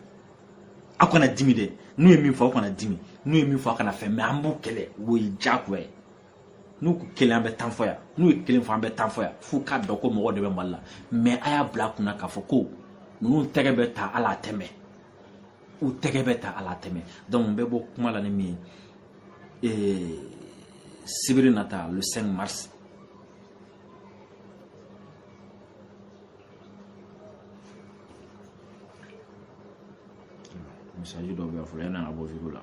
aw kana dimi dɛ n'u ye min fɔ aw kana dimi n'u ye min fɔ aw kana fɛn mais an b'u kɛlɛ o ye diyagoya ye n'u ko kelen an bɛ tan fɔ yan n'u ye kelen fɔ an bɛ tan fɔ yan f'u k'a dɔn ko mɔgɔ de bɛ mali la mais a y'a bila aw kun na k'a fɔ ko ninnu tɛgɛ bɛ ta ala a tɛmɛ u tɛgɛ bɛ ta ala tɛmɛ donc n bɛ bɔ kuma la ni min ye eh, sibiri nata le 5 mars message dɔ bɛ yan fɔlɔ yanni an ka bɔ video la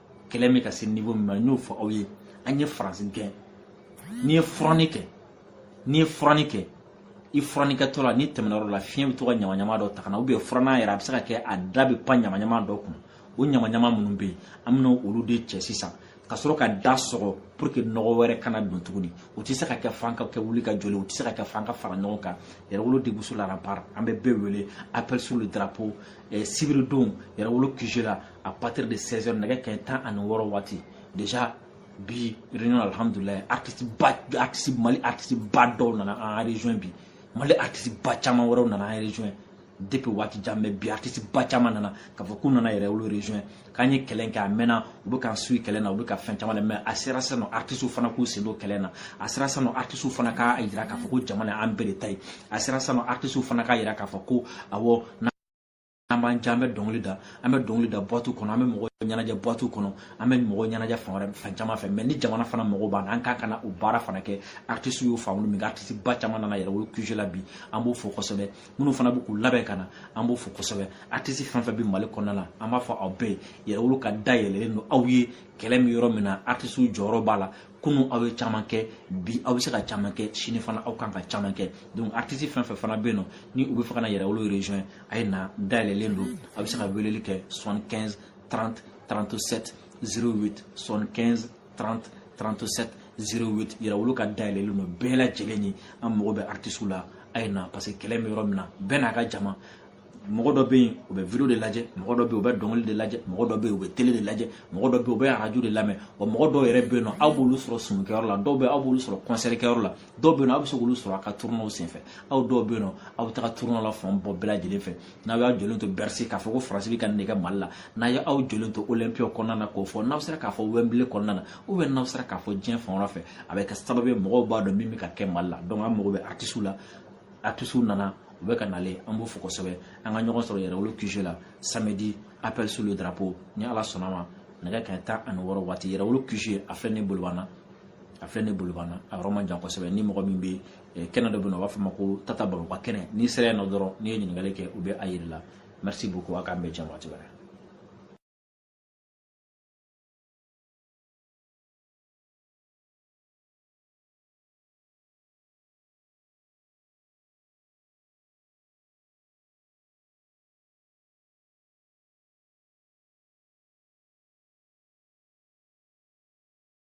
kɛlɛ bɛ ka se niveau min ma n y'o fɔ aw ye an ye faransi gɛn n'i ye furanni kɛ n'i ye furanni kɛ i furannikɛtɔ la n'i tɛmɛna yɔrɔ la fiɲɛ bɛ to ka ɲamaɲama dɔ ta ka na ou bien furannan yɛrɛ a bɛ se ka kɛ a da bɛ pan ɲamaɲama dɔ kun o ɲamaɲama minnu bɛ yen an bɛna olu de cɛ sisan ka sɔrɔ ka da sɔgɔ pour que nɔgɔ wɛrɛ kana don tuguni o tɛ se ka kɛ f'an ka kɛ wuli ka jɔli o tɛ se ka kɛ f'an ka fara ɲɔgɔn kan yɛrɛwolo debout sur les remparts an bɛ bɛɛ wele appel sur le drapeau eh, sibiridon yɛrɛwolo QG la à partir de 16 heures nɛgɛ kanɲɛ tan ani wɔɔrɔ waati déjà bi réunion alhamdulilayi artiste ba artiste mali artiste ba dɔw nana an rejoindre bi mali artiste ba caman wɛrɛw nana an rejoindre depuis waati jan mais bi artiste ba caman nana k'a fɔ k'u nana yɛrɛwolo rejoindre k'an ye kɛlɛ kɛ a mɛnna u bɛ k'an suivre kɛlɛ na u bɛ ka fɛn caman lamɛn a sera sisan nɔ artiste fana k'u sen don kɛlɛ na a sera sisan nɔ artiste fana k'a jira k'a fɔ ko jamana an bɛɛ de ta ye a sera sisan nɔ artiste fana k'a jira k'a fɔ ko awɔ an b'an jan an bɛ dɔnkili da an bɛ dɔnkili da boîte kɔnɔ an bɛ mɔgɔ ɲɛnajɛ boîte kɔnɔ an bɛ mɔgɔ ɲɛnajɛ fan wɛrɛ fan caman fɛ mais ni jamana fana mago b'an na an kan ka na o baara fana kɛ artiste y'o faamu min artiste ba caman nana yɛrɛwolo QG la bi an b'o fo kosɛbɛ minnu fana bɛ k'u labɛn ka na an b'o fo kosɛbɛ artiste fɛn fɛn bɛ mali kɔnɔna la an b'a fɔ aw bɛɛ ye yɛrɛwolo ka da yɛlɛlen don aw ye kɛlɛ bɛ yɔrɔ min na artiste jɔyɔrɔ b'a la kunun aw ye caman kɛ bi aw bɛ se ka caman kɛ sini fana aw kan ka caman kɛ donc artiste fɛn fɛn fana bɛ yen nɔ ni u bɛ fɛ ka na yɛrɛwolo rejoindre a ye na da yɛlɛlen don a bɛ se ka weleli kɛ 75 30 37 08 75 30 37 08 yɛrɛwolo ka da yɛlɛlen don bɛɛ lajɛlen ye an mago bɛ artisiw la a ye na parce que kɛlɛ bɛ yɔrɔ min na bɛɛ n'a ka jama mɔgɔ dɔ bɛ yen u bɛ video de lajɛ mɔgɔ dɔ bɛ yen u bɛ dɔnkili de lajɛ mɔgɔ dɔ bɛ yen u bɛ tele de lajɛ mɔgɔ dɔ bɛ yen u bɛ arajo de lamɛn wa mɔgɔ dɔw yɛrɛ bɛ yen nɔ aw b'olu sɔrɔ sumukɛyɔrɔ la dɔw bɛ aw b'olu sɔrɔ kɔnsɛrikɛyɔrɔ la dɔw bɛ yen nɔ aw bɛ se k'olu sɔrɔ a ka tournées senfɛ aw dɔw bɛ yen nɔ aw bɛ taga tournée la fan bɔ bɛɛ lajɛlen fɛ n'aw y'a jɔlen to bercy k'a fɔ ko faransi bɛ ka nin kɛ mali la n'aw ye aw jɔlen to olympia kɔnɔna na k'o fɔ n'aw sera k'a fɔ wembley kɔnɔna na ou bien n'aw sera k'a fɔ diɲɛ fan wɛrɛ fɛ a bɛ kɛ sababu ye mɔgɔw b'a dɔn min bɛ ka kɛ mali la donc an mago bɛ artisiw la artisiw nana u bɛ ka nalen an b'u fo kosɛbɛ an ka ɲɔgɔn sɔrɔ yɛrɛwolo QG la samedi appel sur le drapeau ni ala sɔnna ma nɛgɛ kanɲɛ tan ani wɔɔrɔ waati yɛrɛwolo QG a filɛ ni bolibana a filɛ ni bolibana a yɔrɔ man jan kosɛbɛ ni mɔgɔ min bɛ eh, kɛnɛ dɔ bɛ yen nɔ u b'a fɔ ma ko tata bambo ka kɛnɛ n'i sera yen nɔ dɔrɔn n'i ye ɲininkali kɛ u bɛ a yir'i la merci beaucoup a k'an bɛɛ jɛ waati wɛrɛ